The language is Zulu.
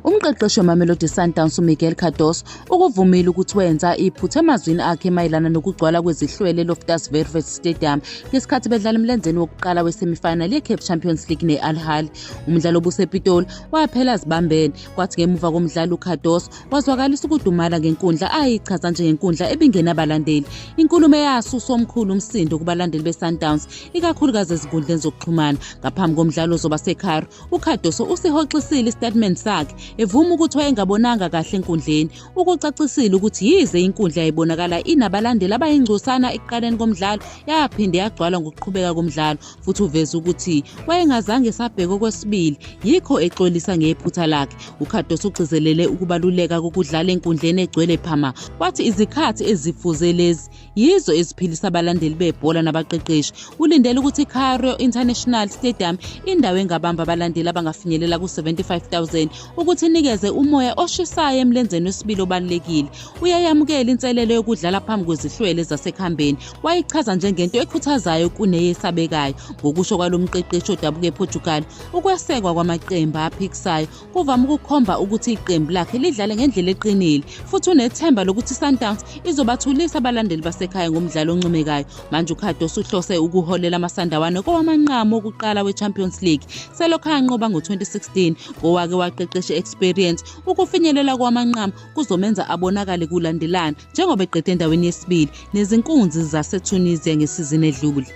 Umqeqeshi weMamelodi Sundowns uMiguel Cardoso ukuvumile ukuthi wenza iphutha emazwini akhe mayelana nokugcwala kwezihlwele Loftus Versfeld Stadium ngesikhathi bedlala emlenzeni wokuqala wesemifinal yeCape Champions League ne-Al Ahly. Umdlalo obusePitoli waphela azibambene kwathi ngemuva komdlalo uCardoso wazwakalisa ukudumala ngenkundla ayichaza njengenkundla ebingenabalandeli. Inkulumo eyasusa omkhulu umsindo kubalandeli beSundowns ikakhulukazi ezinkundleni zokuxhumana ngaphambi komdlalo ozoba seCairo UCardoso usihoxisile istatement sakhe evuma ukuthi wayengabonanga kahle enkundleni. Ukucacisile ukuthi yize inkundla yayibonakala inabalandeli abayingcosana ekuqaleni komdlalo yaphinde yagcwala ngokuqhubeka komdlalo futhi uveze ukuthi wayengazange esabheka okwesibili yikho exolisa ngephutha lakhe. UCardoso ugcizelele ukubaluleka kokudlala enkundleni egcwele phama wathi izikhathi ezifuze lezi yizo eziphilisa abalandeli bebhola nabaqeqeshi ulindele ukuthi icario international stadium indawo engabamba abalandeli abangafinyelela ku-75 000 ukuthi inikeze umoya oshisayo emlenzeni wesibili obalulekile uyayamukela inselelo yokudlala phambi kwezihlwele zasekhambeni wayichaza njengento ekhuthazayo kuneyesabekayo ngokusho kwalo mqeqeshi odabuka eportugal ukwesekwa kwamaqembu aphikisayo kuvame ukukhomba ukuthi iqembu lakhe lidlale ngendlela eqinile futhi unethemba lokuthi i-sundowns izobathulisa abalandeli basekhaya ngomdlalo oncomekayo manje ukhadosi uhlose ukuholela amasandawane kowamanqamu wokuqala we-champions league selokhu anqoba ngo-2016 ngowake waqeqesha experience ukufinyelela kowamanqamu kuzomenza abonakale kulandelana njengoba eqede endaweni yesibili nezinkunzi zasetunisia ngesizini edlule